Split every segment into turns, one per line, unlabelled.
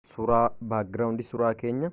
Suuraa background suuraa keenya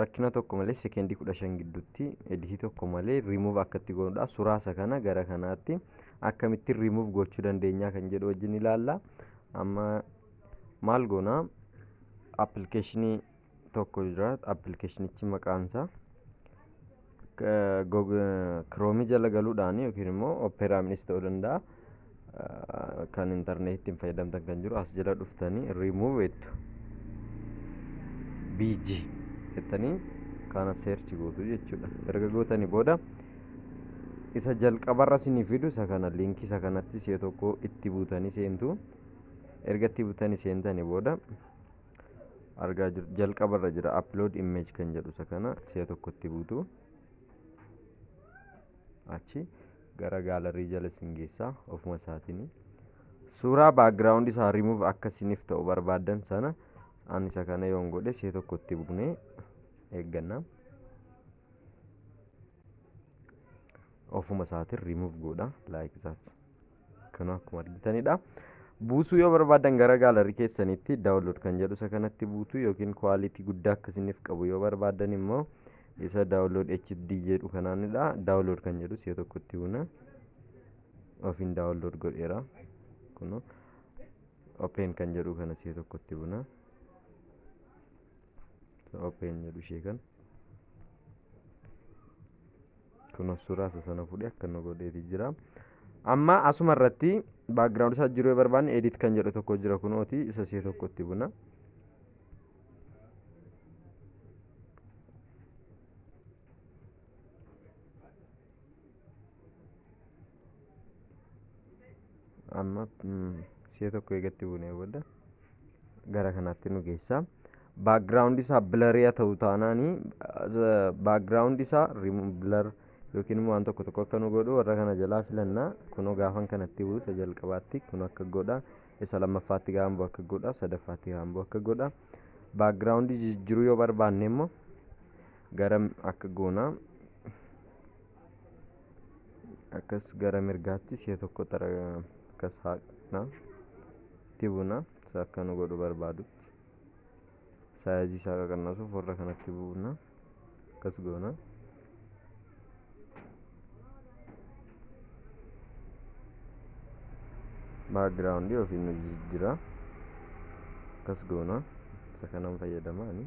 rakkina tokko malee sekeendii 15 gidduutti editii tokko malee remove akkatti goonudha. Suuraa isa kana gara kanaatti akkamitti remove gochuu dandeenya kan jedhu wajjin ilaalla. Amma maal goona appilikeeshinii tokko jira appilikeeshinichi maqaansaa Kiroomii jala galuudhaan yookiin immoo Opera Minis ta'uu danda'a. Kan intarneetii ittiin fayyadamtan kan jiru as jala dhuftanii remove jettu. BG jettanii kana search gootu jechuudha. Erga gootanii booda isa jalqabarra isinii fidu isa kana liinkii isa kanatti si'a tokko itti buutanii seentu. Erga itti buutanii seentanii booda argaa jirtu jalqaba irra jira upload image kan jedhu isa kana si'a tokkotti buutu achi gara gaalarii jala isin geessaa ofuma isaatiin suuraa background isaa remove akka isiniif ta'u barbaaddan sana ani isa kana yoon godhe si'a tokkotti buunee eegganna ofuma isaatiin remove godha like that Kun akkuma argitanidha. Buusuu yoo barbaadan gara gaalarii keessanitti daawunlood kan jedhu isa kanatti buutu yookiin kwaalitii guddaa akka isiniif qabu yoo barbaadan immoo isa daawunlood HD jedhu kanaanidha. Daawunlood kan jedhu si'a tokkotti buuna. Ofiin daawunlood godheera. Kunoo open kan jedhu kana si'a tokkotti buuna. Open jedhu ishee kana. Kuno suuraa isa sana fuudhee akka nu godheeti jira. Amma asuma irratti background isaa jiruu yoo barbaanne edit kan jedhu tokko jira kunooti isa si'a tokko itti buna. amma si'a tokko eegatti buunee booda gara kanaatti nu geessa baakgiraawundi isaa bilari'a ta'u taanaanii baakgiraawundi isaa bilar yookiin immoo waan tokko tokko akka nu godhu warra kana jalaa filannaa kunoo gaafan kanatti bu'u isa jalqabaatti kun akka godha isa lammaffaatti gaafan bu'u akka godha sadaffaatti gaafan bu'u akka godha baakgiraawundi jijjiiruu yoo barbaanne immoo gara akka goonaa akkas gara mirgaatti si'a tokko xara akkas haaqna itti buuna isa akka nu godhu barbaadutti saayizii isaa qaqannasuuf warra kanatti buuna akkas goona background ofiin nu jijjiira akkas goona isa kanan fayyadama ani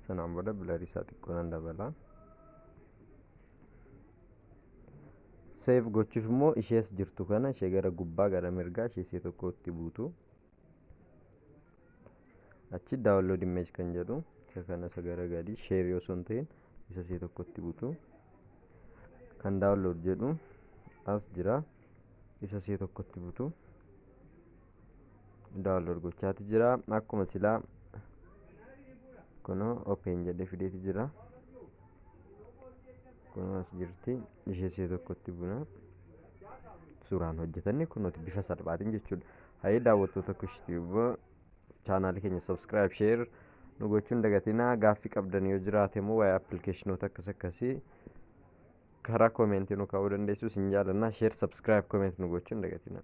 Sanaan booda bilarii isaa xiqqoo nan dabala. Seef gochuuf immoo ishees jirtu kana ishee gara gubbaa gara mirgaa ishee ishee tokkotti buutu. Achi download image kan jedhu isa kana isa gara gadii share yoo sun ta'in isa ishee tokkotti buutu. Kan download jedhu as jira isa ishee tokkotti buutu. download gochaati jira akkuma silaa kunoo open jedhe fideeti jira kunoo as jirti ishee see tokkotti buna suuraan hojjetanne kunooti bifa salphaatiin jechuudha hayee daawwattoota kushtiiba chaanaalii keenya subscribe share nu gochuun dagatinaa gaaffii qabdan yoo jiraate immoo waa'ee appilikeeshinoota akkas akkasii karaa koomeentii nu kaa'uu dandeessu isin jaalannaa share subscribe koomeent nu gochuun dagatinaa